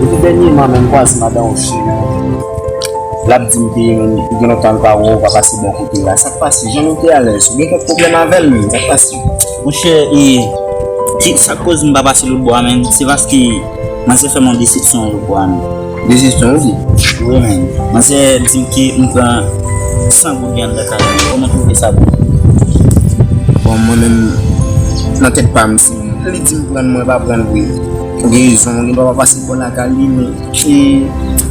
Depi dènyèman menm vwazen madan ou cheri l ap di m ke gen lontan l pa wè w pa pase bò kote l la. Sa k pase? Jan nou te alèz? Ou gen kèk pwoblèm avè l menm? Sa k pase? Monchè e ki sak koz m pa pase lotbo a menn se paske manzè fèm yon desepsyon lotbo a menn. Desepsyon ou di? Wi menn. Manzè dim ke m pran 100 goud li anndan kay mwen. Koman twouve sa pou ou? Bon mwen menm nan tèt pam si li dim prann mwen pa prann vre. Ou gen rezon gen dwa pa pase bò lakay li men e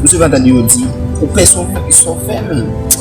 m sot antann yo di ou pè sòvè, sòvè menn.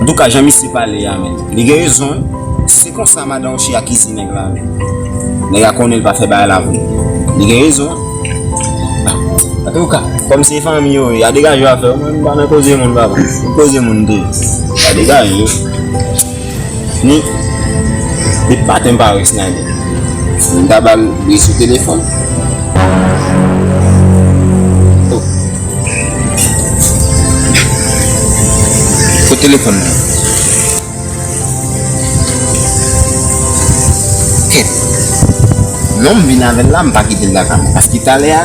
Antouka jan misye pale a menn li gen rezon wi se konsa madan ochi akize nèg la menn nèg la konnen li pa fè bagay la vre li gen rezon antouka kòm se fanmi yo ye a degaje yo afè yo mwen m pa nan koze moun papa koze moun de a degaje. Ni Li pa te bare Snyder. M ta ba l bri sou telefòn. Oh Kot telefòn nan? Kèt non m vin avè l la m pa kite l lakay mwen paske talè a.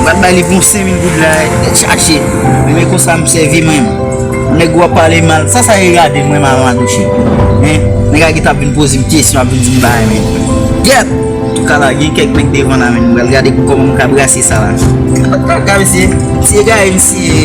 M pat bay li pou yon senmil goud la e chache men konsa m sèvi menm nèg wap pale mal sa sa ye gade m wè m avan atouche men nèg la gentan ap vin poze m kesyon ap vin di m bagay men gyèt antouka la gen kèk nèg devan la menm m pral gade pou kòman m ka brase sa la antouka mesye se ekaye m siye.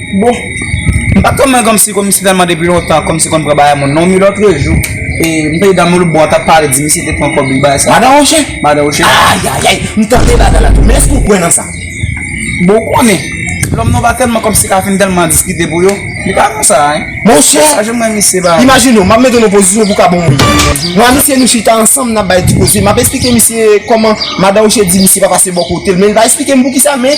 Bon m pat konn mwen kòmsi kòmsi telman depi lontan kòmsi konn pran bagay moun non mi lòtre jou e m tande dam olbon an tap pale di misye te pran kòb li bagay sa Madan Roche? Madan Roche Ayayay m tande bagay la tou men èske ou kwè nan sa? Bon ou konnen lòm nou pa telman kòmsi ka fin telman diskite pou yo li pa konsa hein Monchè Sa janm renmen misye bagay la. Imajine w map mete w nan pozisyon pou w ka bon moun Mwen a misye nou chita ansanm nap bay ti koze map esplike misye kòman Madan Roche di misye pa pase bò kote l men li pa esplike m poukisa men